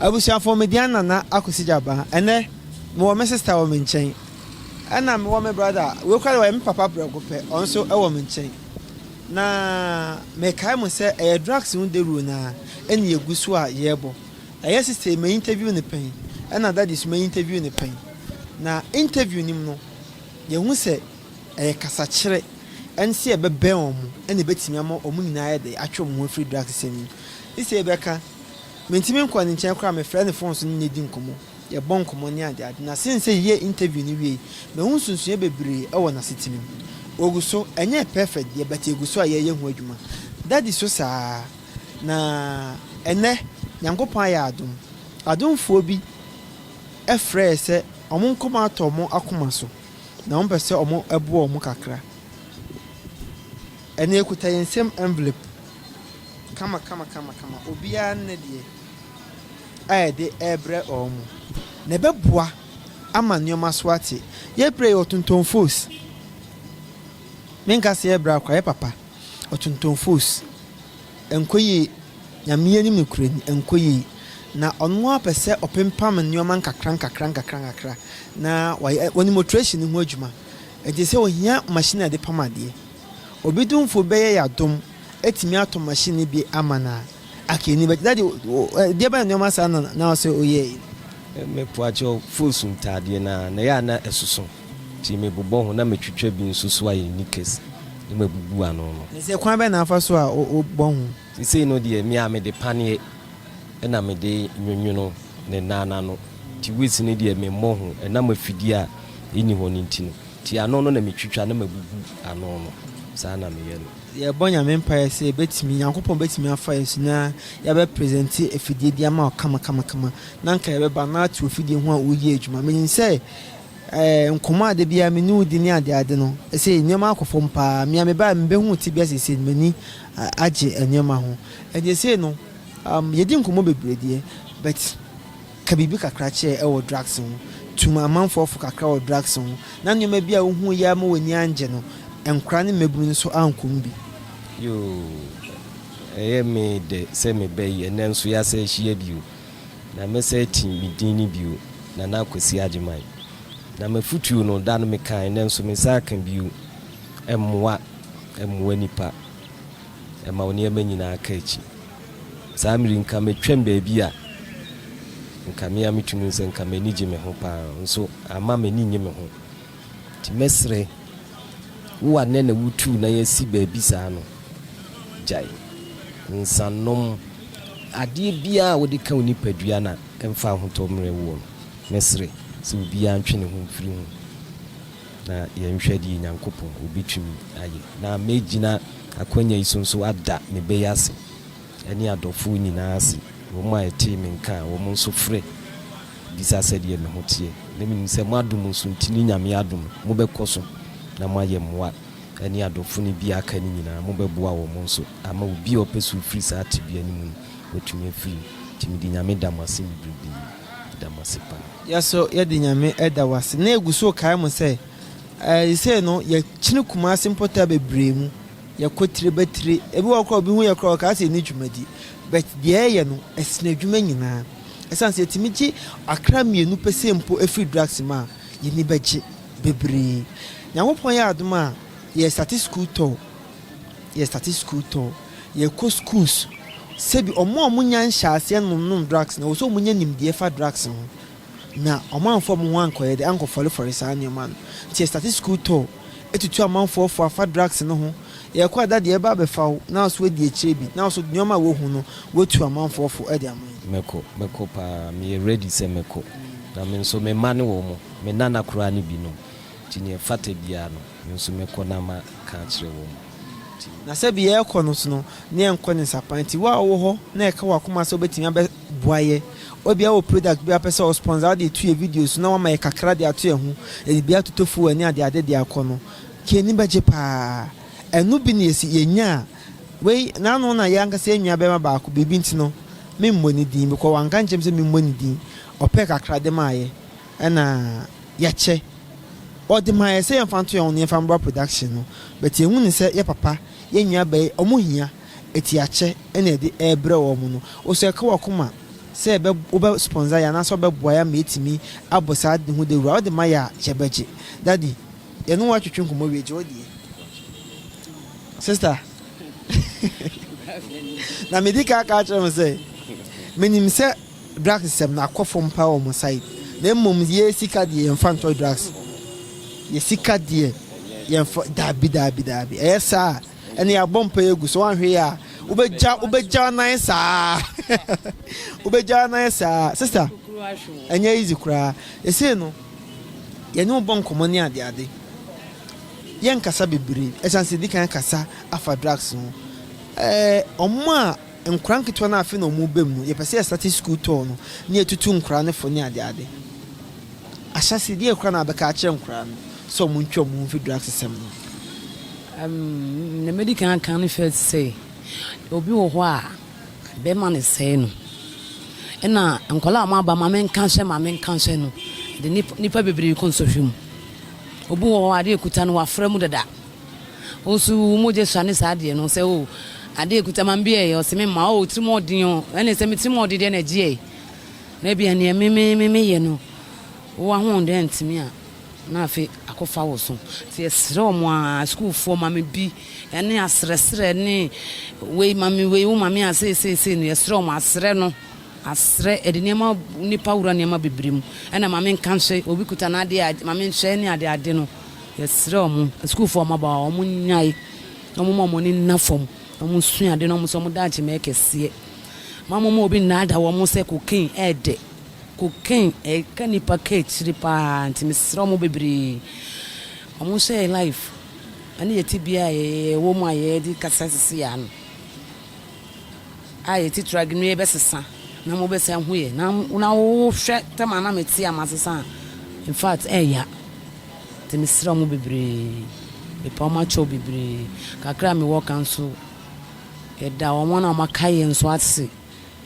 Abusuafoɔ, me deɛn Nana Akwasi Gyabaa. Ɛnnɛ, mewɔ me sista wɔ me nkyɛn. Ɛna mewɔ me brada, wei koraa deɛ ɔyɛ me papa prɛko pɛ, ɔno nso wɔ me nkyɛn. Na mekae mo sɛ ɛyɛ drugs ho dawuro no ara ɛna yɛgu so a yɛrebɔ. Ɛyɛ sista yi, ma interview no pɛn, ɛna daddy nso ma interview no pɛn. Na interview no mu no, yɛhu sɛ. Ɛyɛ kasakyerɛ ne sɛ yɛbɛbɛn wɔn na ɛbɛtumi ama wɔn nyinaa ayɛ dɛ atwe wɔn ho afiri drugsisɛm no mu. Ne sɛ yɛbɛka, mentumi nkɔ ne nkyɛn koraa a, mefrɛ no fon so ne no di nkɔmmɔ, yɛbɔ nkɔmmɔ ne adeade. Na sen sɛ yɛyɛ interview no wiei, mahu nsonsonoeɛ bebree wɔ n'asetirim. Ɔgu so, ɛnyɛɛ perfect deɛ but ɛgu so a yɛreyɛ ho adwuma. Daddy so saa ara. Na ɛnnɛ Nyankopɔn ayɛ adom, adomfoɔ bi frɛɛ sɛ wɔn nkɔmmɔ atɔ wɔn akoma so. na wɔpɛ sɛ wɔboa wɔn kakra. Ɛnna yɛkuta yɛn nsam envelope kamakamakamakama, obiara ne ne deɛ a yɛde rebrɛ wɔn, na ɛbɛboa ama nneɛma so ate. Yɛbrɛ yi, ɔtontɔn fos. Menka sɛ yɛbrɛ ara koraa, ɛyɛ papa. Ɔtontɔn fos. Ɛnkɔ yie, Nyame anim nokorɛ ni, ɛnkɔ yie. Na ɔno ara pɛ sɛ ɔpempam nnoɔma nkakra nkakra nkakra nkakra na wayɛ wɔ ne motoration no ho adwuma. Ɛnti sɛ ohia machine a yɛde pam adeɛ. Obi domfo bi bɛyɛ yɛ adom atumi atɔ machine no bi ama no a, aka ani bɛgye. Daddy, deɛ bɛn nnoɔma saa na na ɔsɛ ɔyɛɛe? Me poakyɛw, foosu ntaadeɛ no ara na ɛyɛ a na ɛsoso. Nti mebobɔ ho na metwitwa bi nso so ayɛ knickers na mabubu ano no. Ɛsɛ kwan bɛn na afa so a wobɔ ho? Sesei no deɛ me a mede paneɛ na mede nwonwono ne nan no ano, nti waist no deɛ memmɔ ho, ɛnam afidie a ɛnni hɔ no nti no, nti ano no na metwitwa na mabubu ano no, saa na meyɛ no. Yɛrebɔ Nyame mpaeɛ sɛ yɛbɛtumi, Nyankopɔn bɛtumi afa yɛn so na yɛabɛ presente afidie bi ama wo kama kama kama, na anka yɛbɛba na ate w'afidie ho a woyɛ adwuma. Menim sɛ Nkɔmmɔ a da biara me ne wo di ne adeade no, seesei nneɛma akɔ fam paa. Me a mebae a mibehu wo tebea seesei no, m'ani agye nneɛma ho. Enti seesei no, yedi nkɔmmɔ bebree deɛ, but ka biribi kakra kyerɛ wɔ drugs ho. Tu amanfoɔ fo kakra wɔ drugs ho, na nneɛma bi a wuhui yi ara ma w'ani angye no, nkwadaa ne mmabunu nso ankɔ mu bi. Yoo, ɛyɛ me dɛ sɛ mebɛyɛ, nanso yɛasan ahyia bio. Na mɛsɛe tee me din no bio, Nana Kwasi Agyeman. Na m'afutuo no, da no mekae, nanso mensan aka bio, Mmoa, mmoa nnipa, ɛma wo nneɛma nyinaa ka akyi. Saa mmere yi, nka matwam baabi a nka me ara metumi hu sɛ nka m'ani gye me ho pa ara, nso amma m'ani nnye me ho. Nti mɛsrɛ wo a nnɛ na wutuu nan asi baabi saa no, gyae nsanom. Adeɛ biara a wode ka wo nipadua no a mfa ahotɔ mmrɛ woɔ no, mɛsrɛ sɛ obiara ntwe ne ho mfiri ho na yɛnhwɛ deɛ Nyankopɔn ɔbɛtumi ayɛ. Na mɛgyina akwanya yi so nso ada me bɛ yi ase. ne adɔfoɔ nyinaa ase, wɔn a wɔtee me nka a, wɔn nso frɛ bisa sɛdeɛ me ho teɛ. Na menim sɛ mo adom nso nti ne Nyame adom mobɛkɔ so na moayɛ mmoa ne adɔfo no bi a aka no nyinaa, mobɛboa wɔn nso ama obi a ɔpɛ sɛ ɔfiri saa tebea no mu no watumi afiri mu. Nti mede Nyame da mo ase bebrebe. Meda mo ase paa. Yɛ so yɛde Nyame da wo ase na yɛgu so rekae mo sɛ, seesei no yɛkyene Kumasi mpɔtaa bebree mu. Yɛkɔ tire bɛ tire. Ebi wɔ hɔ koraa a obi hu yɛn koraa a ɔkaa sɛ yɛnni dwumadi. But deɛ yɛyɛ no, ɛsene adwuma nyinaa. Ɛsiane sɛ yɛtumi gye akra mmienu pɛ sei mpo firi drugs mu a, yɛn ani bɛgye bebree. Nyankopɔn yɛɛ adom a, yɛrestate sukuu tɔɔ. Yɛrestate sukuu tɔɔ. Yɛrekɔ schools. Sɛbi wɔn a wɔnnya nhyɛaseɛ nom nom drugs no, ɛwɔ sɛ wɔnya nimdeɛ fa drugs ho. Na ɔmamfa ɔmo ho ankɔyɛ dɛ, ankɔfɔrefɔre saa nneɛma no. Ntsi yɛsesa dze skuul tɔɔ, etutu amamfoɔ fo afa drugs no ho. Yɛkɔ a, da deɛ yɛbɛba abɛfa wo, na so woedi ekyir bi, na so nneɛma a wohu no, woetu amamfoɔ fo dze ama hɛn. Mɛkɔ, mɛkɔ paa, meyɛ ready sɛ mɛkɔ. Na me nso me mma ne wɔn, me nana koraa ne binom. Nti nea ɛfata biara no, me nso mɛkɔ na maka akyerɛ wɔn. Nti. Na sɛbi yɛrekɔ no nso no, na yɛnnkɔ ne nsapan. Nti wo a wowɔ hɔ na ɛka w'akoma sɛ wobɛtumi abɛ, boa yɛ. Ebia wɔ product bi a wopɛ sɛ wo sponsor a wode to yɛ video so na wama yɛ kakra de ato yɛ ho, yɛde bi atoto fuel ne ade ade de akɔ no nka yɛn ani bɛgye paa. Ɛno bi na yɛsi yɛnya a wei na ano na yɛn ankasa yɛn nua barima baako biribi nti no me mmɔ ne din because wanka ankyerɛ me sɛ me mmɔ ne din ɔpɛɛ kakra de maa yɛ ɛna yɛkyɛ ɔde maa yɛ sɛ yɛn fa nto yɛn ho na yɛn fa mbra production no but yɛn hu ne sɛ yɛ papa yɛn nua bɛɛ ɔmo hia atuakyɛ na ɛde rebrɛ wɔn no. Wo so ɛka w'akoma sɛ bɛ wobɛ sponsor yɛ anaasɛ wobɛboa yɛ ama yɛatumi abɔ saa ade ho dawuru a? Wode ma yɛ a, kyɛ bɛgye. Daddy, yɛne wo atwetwe nkɔmmɔ wie, gye wo deɛ. Sister, na medi kan aka akyerɛ mo sɛ, menim sɛ drugs sɛm no akɔ fam paa wɔ mo side, na mmom yɛ sika deɛ yɛmfa ntɔ drugs. Yɛ sika deɛ yɛmfa, daabi, daabi, daabi. Ɛyɛ saa a, Ɛnneɛ abɔ mpaeɛ agu so, woanhwɛ yie a wobɛgya wobɛgya nan saa wobɛgya nan saa sister ɛnyɛ easy koraa ɛsei no yɛne wo bɔ nkɔmmɔ ne ade ade yɛnkasa bebree ɛsiane sɛ di kan kasa afa drugs ho ɛɛ ɔmo a Nkwadaa nketewa no a afei na wɔreba mu no, yɛpɛ sɛ yɛstate sukuu tɔɔ no na yɛatutu nkwadaa no fo ne adeade. Ahyɛse yi, deɛn koraa na wobɛka akyerɛ nkwadaa no sɛ wɔntwe wɔn ho mfi drugs sɛm no ho? Ɛɛm, nea mɛdi kan aka ne sɛ, sɛ obi wɔ hɔ a bɛrima no sɛe no, ɛna nkwadaa a wɔaba maame nka nhyɛ maame nka nhyɛ no de nnipa bebree rekɔ nsɔhwɛ mu. Obi wɔ hɔ a adeɛ a ɔkuta no wafra mu dada, Wo nso wo mogya sua ne saa adeɛ no sɛ oh adeɛ ɛkuta ma mbeɛ yɛ ɔse me mma oh tirim ɔden oh ɛne sɛ me tirim ɔden deɛ na ɛgyeɛ yi na ebia neɛ me me me me yɛ no wo ahoɔden antumi a na afe akɔ fa wo so nti yɛsrɛ ɔmo a school foɔ ma me bi ɛne asrɛsrɛ ne wei ma me wei wo ma me a sei sei sei no yɛsrɛ ɔmo asrɛ no asrɛ ɛde nneɛma nipa wura nneɛma bebree mu ɛna ma me nka nhwɛ obi kuta n'adeɛ a ma me nhwɛ ne ade ade no Yɛsrɛ wɔn, asukuufoɔ a wɔn aba hɔ a, wɔn nnyae na wɔn mma wɔn ani nna fam na wɔn nsua ade na wɔn nso wɔn daakye mmɛyɛ kɛseɛ. Mma mo mma obi nnaadaa wɔn sɛ cocaine ɛɛdɛ. Cocaine ɛka nnipa kɔ akyiri paa nti mesrɛ wɔn bebree wɔn nhyɛ yɛn life ɛne yɛn tebea a yɛwɔ mu a yɛde kasa sisi a no a yɛte trag no yɛbɛsesa na mo bɛsa ahu yɛ na na wohwɛ tɛm a na mete a masesa a in fact ɛɛya. Nti mesera mo bebree, mepaw m'akyɛw bebree, kakra a mewɔ ka nso yɛda wɔn a wɔaka yɛn nso ase,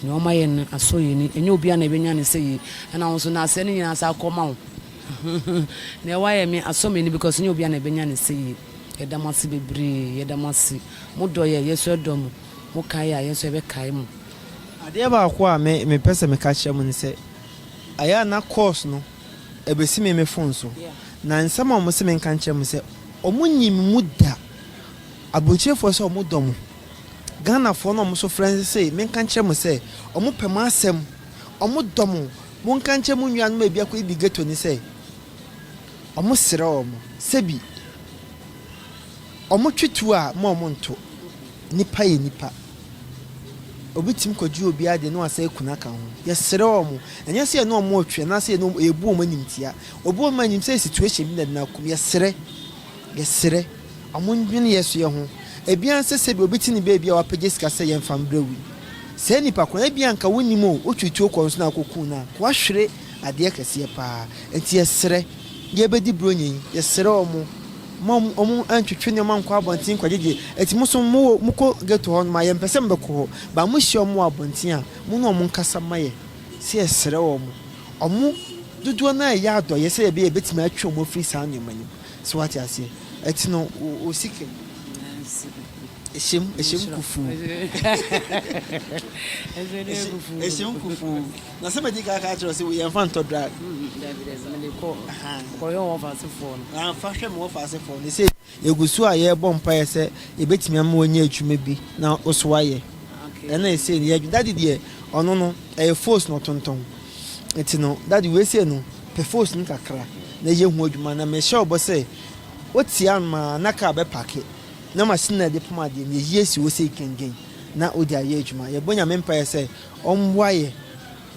nea wɔma yɛn no asɔ yɛn ani, ɛnyɛ obiara na ebenya ne sɛ yei, ɛna wo nso na asɛe no nyinaa saa kɔma wo, nea woayɛ me asɔ m'ani because ɛnyɛ obiara na ebenya ne sɛ yei, yɛda mo ase bebree, yɛda mo ase, mo dɔ yɛn, yɛn nso yɛdɔ mo, mo kae yɛn a, yɛn nso yɛbɛkae mo. Adeɛ baako a me mepɛ sɛ meka kyerɛ mo ne sɛ, ɛyɛ a na course no Ebesi me me fon so. Na nsɛm a wɔse menka nkyerɛ mo sɛ wɔnyi me mu da. Aburokyirifoɔ sɛ wɔdɔ mo. Ghanafoɔ no a wɔso frɛ se menka nkyerɛ mo sɛ wɔpɛ mo asɛm, wɔdɔ mo. Monka nkyerɛ mo nuanom a ebi akɔ Ibi ghetto no sɛ wɔsrɛ wɔn sɛ bi. Ɔmo twe tuo a mma ɔmo nto. Nipa yɛ nipa. Obi tumi kɔgye obi adeɛ na wasan aku no aka ho. Yɛsrɛ wɔn. Ɛnyɛ sɛ yɛne wɔn retwe anaasɛ yɛne wɔn, yɛbu wɔn animtia. Obi wɔ hɔ ma nim sɛ situation bi na ɛde no akɔ mu. Yɛsrɛ. Yɛsrɛ. Ɔmo nnwene yɛn so yɛ ho. Ebi ara nsɛ sɛ bi obi te ne baabi a wapagya sika sɛ yɛmfa mbrɛ wo yi. Saa nipa korɔ no, ebi a anka wonnim o, wotwe tuo kɔ no so na akɔ ku no a, anka wahwere adeɛ kɛseɛ paa. Nti yɛsrɛ. Yɛbɛdi bronyɛ yi. Yɛsrɛ wɔn. Mo a wɔn ntwetwe nneɛma nkɔ abɔnten nkɔgyegye ɛti mo nso mo wɔ mo kɔ ghetto hɔ nom a yɛn mpɛ sɛ mo bɛ kɔ hɔ but mo hyia wɔn wɔ abɔnten a mo ne wɔn nkasa ma yɛn sɛ yɛ srɛ wɔn wɔn dodoɔ no ara yɛ adɔyɛ sɛ yɛ bɛ yɛ yɛ bɛtumi atwe wɔn afiri saa nneɛma no mu so wate aseɛ ɛti no wo wo sika mu ɛhyɛm ɛhyɛm kufuu ɛhyɛm kufuu. Na sɛ madi kan aka akyerɛ wo sɛ wei ɛmfa ntɔ drug. Mm-mm, dabi dabi, mede kɔ, Ahaa. kɔhwɛ wɔn ɔfaasefoɔ no. Ah, fa hwɛ mo ɔfaasefoɔ no. Sei, yɛgu so a yɛrebɔ mpaeɛ sɛ yɛbɛtumi ama wanya adwuma bi na wo so ayɛ. Okay. Ɛna ɛsei no yɛdwe, daddy deɛ, ɔno no, ɛyɛ fos na ɔtontɔn. Nti no, daddy wei sei no, pɛ fos no kakra na yɛ ho adwuma. Na mehyɛ wo bɔ sɛ, wote anom a, na kaa bɛpake, na machine a ɛde pam adeɛ no, yɛyi asi hɔ sei kɛngɛn na wode ayɛ adwuma. Yɛbɔ Nyame mpaeɛ sɛ Ɔmboa yɛ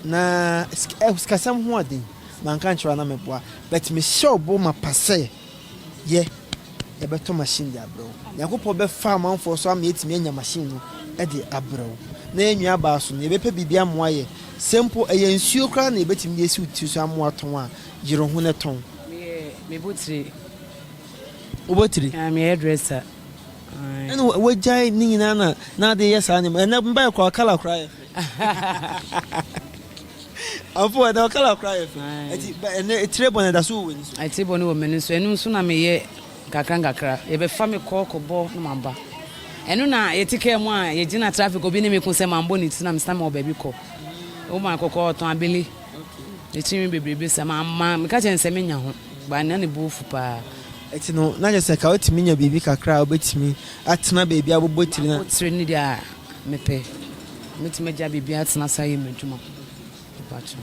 na sikasɛm ho aden manka nkyerɛ wo a na mɛboa but mehyɛw bo mapa sɛ yɛ yɛbɛtɔ machine de abrɛ wo. Nyankopɔn bɛfa amanfoɔ so ama yɛatumi anya machine no de abrɛ wo na yɛn nua baa so no yɛbɛpɛ biribi amoa yɛ sɛ mpo ɛyɛ nsuo koraa na yɛbɛtumi de asi wo tiri so amoa tɔn a yere wo ho na tɔn. Meyɛ mebɔ tire. Wobɔ tire? Aah me hairdresser. Ɛna wagyae ne nyinaa na n'ade yɛ saa nneɛma. Ɛnɛ mbae koraa kala koraa yɛ fɛ. Afo ɛnɛ ɔkala koraa yɛ fɛ. Ɛti ɛnɛ etire bɔ na ɛda so wɔ w'ani so. Etire bɔ no wɔ m'ani so. Ɛno nso na meyɛ nkakra nkakra. Yɛbɛfa me kɔ kɔbɔ na maba. Ɛno na yɛte kaa mu a yɛgyina traffic obi ne me ko sɛ mambɔ ne ti na mesena mewɔ baabi kɔ. Woman kɔkɔɔ ɔtɔn abele. Ɛkyi nwi bebrebe sa. Meka kyerɛ no sɛ menya ho. Ba na ne bo afu paa. Ɛte no, na kyerɛ sɛ ka wotumi nya biribi kakra a wobetumi atena baabi abobɔ tire na. Abobɔ tire ne deɛ a mepɛ. Mɛtumi agya biribi atena saa yɛ m'adwuma mpakyɛw.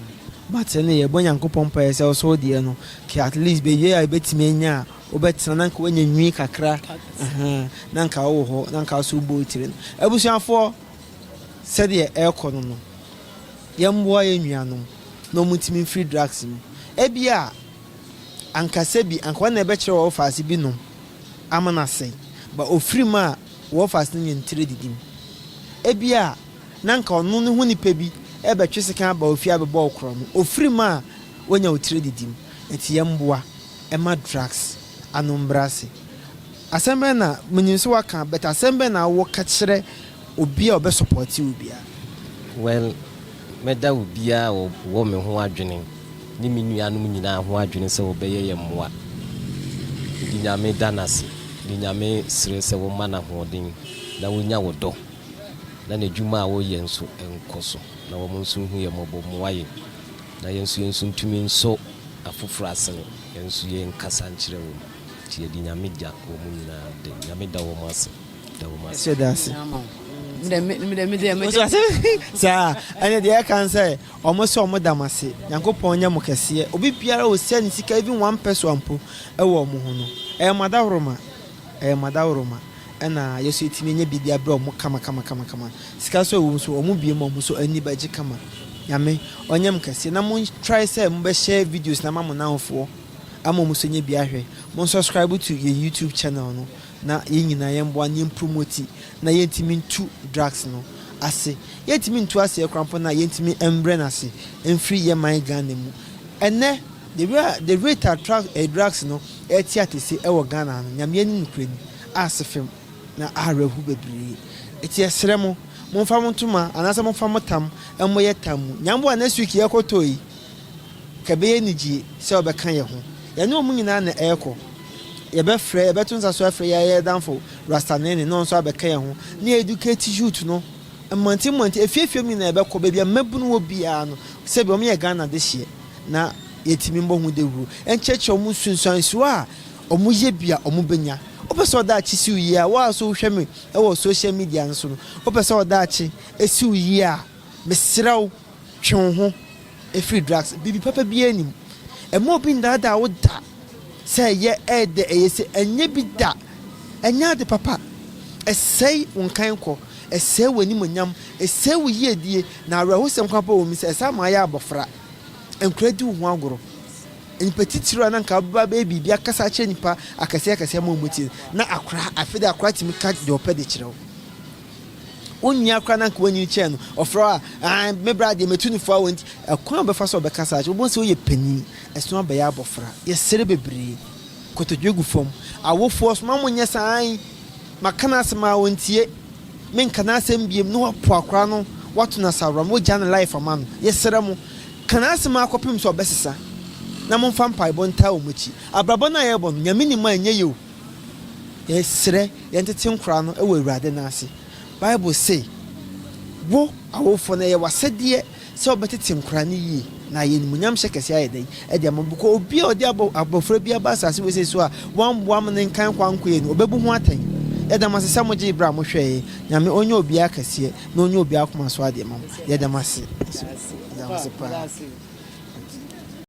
But ɛnna yɛ bɔ Nyankopɔn mpaeɛ sɛ ɔsɛ wo deɛ no kɛ at least baabi a wobetumi anya a wobɛtena na nka wanya nwii kakra ɛhɛn na nka wowɔ hɔ na nka wosɛ wobɔ wotire no. Abusuafoɔ sɛdeɛ ɛrekɔ no no yɛmmoa yɛn nuanom na wɔntumi mfiri drugs mu. Ɛbia. ankasa bi anka ɔna ɛbɛkyerɛ wɔfase bi nom ama no asɛe, ba ofiri mu a wɔfase no nyɛ ntire didim. Ebia na anka ɔno ne ho nipa bi rebɛtwe sekan aba wo fie abɛbɔ wo korɔ no, ofiri mu a wanya wo tire didim. Enti yɛn mmoa mma drugs ano mbrɛ ase. Asɛm bɛn na, menim sɛ waka, but asɛm bɛn na wo ka kyerɛ. Obi a ɔbɛ sɔpɔte wo bia. Well mɛda obiaa a ɔwɔ me ho adwene ne me nuanom nyinaa ho adwene sɛ wɔbɛyɛ yɛn mmoa. Mede Nyame da no ase de Nyame srɛ sɛ woma no ahoɔden na ɔnya wo dɔ na n'adwuma a ɔreyɛ nso nkɔ so na wɔn nso nhu yɛn mmɔbɔ mmoa yɛn na yɛn nso yɛn nso ntumi nsɔ afoforɔ asene yɛn nso yɛn nkasa nkyerɛ wɔn nti yɛde Nyame da wɔn nyinaa de Nyame da wɔn ase. Ɛsɛ da ase. Saa ɛne deɛ ɛka n sɛ ɔmo sɛ ɔmo da mo ase Nyankopɔn nyɛ mo kɛseɛ obi biara ɔsia ne sika even one pɛsoa mpo ɛwɔ ɔmo ho no ɛyɛ mo adaworoma ɛyɛ mo adaworoma ɛna yɛ so ɛtumi nyɛ biribi abrɛ ɔmo kama kama kama kama sika so ɛwɔ mu so ɔmo bie mu ɔmo so ani bɛgye kama Nyame ɔnyɛ mo kɛseɛ na mo try sɛ mo bɛhyɛ videos na ma mo nanfoɔ ama ɔmo so nyɛ bi ahwɛ mo subscribe to yɛ YouTube channel no na yɛn nyinaa yɛn mmoa na yɛn promote na yɛn ntumi ntu drugs no ase yɛn ntumi ntu aseɛ koraa mpo na yɛn ntumi mbrɛ no ase mfiri yɛn man Ghana mu ɛnnɛ the way a the rate a drugs no ɛte atese ɛwɔ Ghana ha no Nyame ani no kura ni aase fem na awerɛ ho bebree ɛti yɛ srɛ mo mo nfa mo ntoma anaasɛ mo nfa mo tam mmɔ yɛ tam mu Nyamboa next week yɛ kɔ tɔ yi. Nka ɛbɛyɛ anigye sɛ wɔbɛka yɛn ho. Yɛne wɔn nyinaa na ɛrekɔ. Yɛbɛfrɛ, yɛbɛto nsa so afrɛ yɛn ayɛdamfo Rasta Nene na ɔno nso abɛka yɛn ho, na yɛ-educate youth no mmɔnten mmɔnten, afie afie mu nyinaa yɛbɛkɔ, baabi a mmabunu wɔ biara no, sɛdeɛ wɔyɛ Ghana dehyeɛ na yɛatumi mmɔ ho dawuro, nkyerɛkyerɛ wɔn nsunsuansoɔ a wɔyɛ bi a wɔbɛnya. Wopɛ sɛ wo daakye si wo yie a, wo a nso wohwɛ me wɔ social media no so no, wopɛ sɛ wo daakye si wo yie a, mesrɛ wo, Twe wo ho firi drugs. Biribi papa biara nnim. Mma obi nnaadaa wo da sɛ ɛyɛ, ɛyɛ dɛ, ɛyɛ sei. Ɛnyɛ bi da. Ɛnyɛ ade papa. Ɛsɛe wo nkankɔ. Ɛsɛe w'animuonyam. Ɛsɛe wo yiedie. Na awerɛhosɛm koraa mpo wɔ mu sɛ, ɛsan ma woayɛ abɔfra. Nkwadaa di wo ho agorɔ. Nnipa titiriw a na anka wobɛba abɛyɛ biribi akasa akyerɛ nnipa akɛseɛ akɛseɛ ama wɔn mu tie na akwadaa, afei deɛ akwadaa tumi ka deɛ ɔpɛ de kyerɛ wo. Wo nua koraa no anka w'anyini kyɛɛ no, ɔfrɛ wo a, aah, me bra deɛ matu no fo a o nti, ɛkwan a wobɛfa so a ɔbɛka saa akyerɛ wo, wobɛhu sɛ woyɛ panin, ɛsono abɛyɛ abɔfra. Yɛsere bebree. Nkotodwe gu fam. Awofoɔ, soma mo nyɛ saa ae, maka n'asɛm a ɔntie, menka n'asɛm biom, na woapo akwadaa no, woato no asaworam, wogya ne life ama no. Yɛsrɛ mo, ka n'asɛm ara kɔpem sɛ ɔbɛsesa, na momfa mpaebɔ ntaa wɔn akyi. Abrabɔ no a yɛrebɔ no, Nyame nim a ɛnyɛ yɛ o. Yɛsrɛ, yɛntete nkora no wɔ Awurade no ase. Bible se, Wo, awofoɔ no, ɛyɛ w'asɛdeɛ sɛ wobɛtete nkora no yie, na ayɛ animuonyam hyɛ kɛseɛ ayɛ dɛn de ama wo? Because obi a ɔde abɔfra bi aba asase wesee so a wamboa ma ne nkan kɔ ankoeɛ no, ɔbɛbu ho atɛn. Yɛda mo ase sɛ mogyee berɛ a mohwɛeɛ. Nyame ɔnyɛ obiara kɛseɛ na ɔnyɛ obiara akoma so adeɛ mma mo. Yɛda mo ase nso. Yɛda mo ase paa.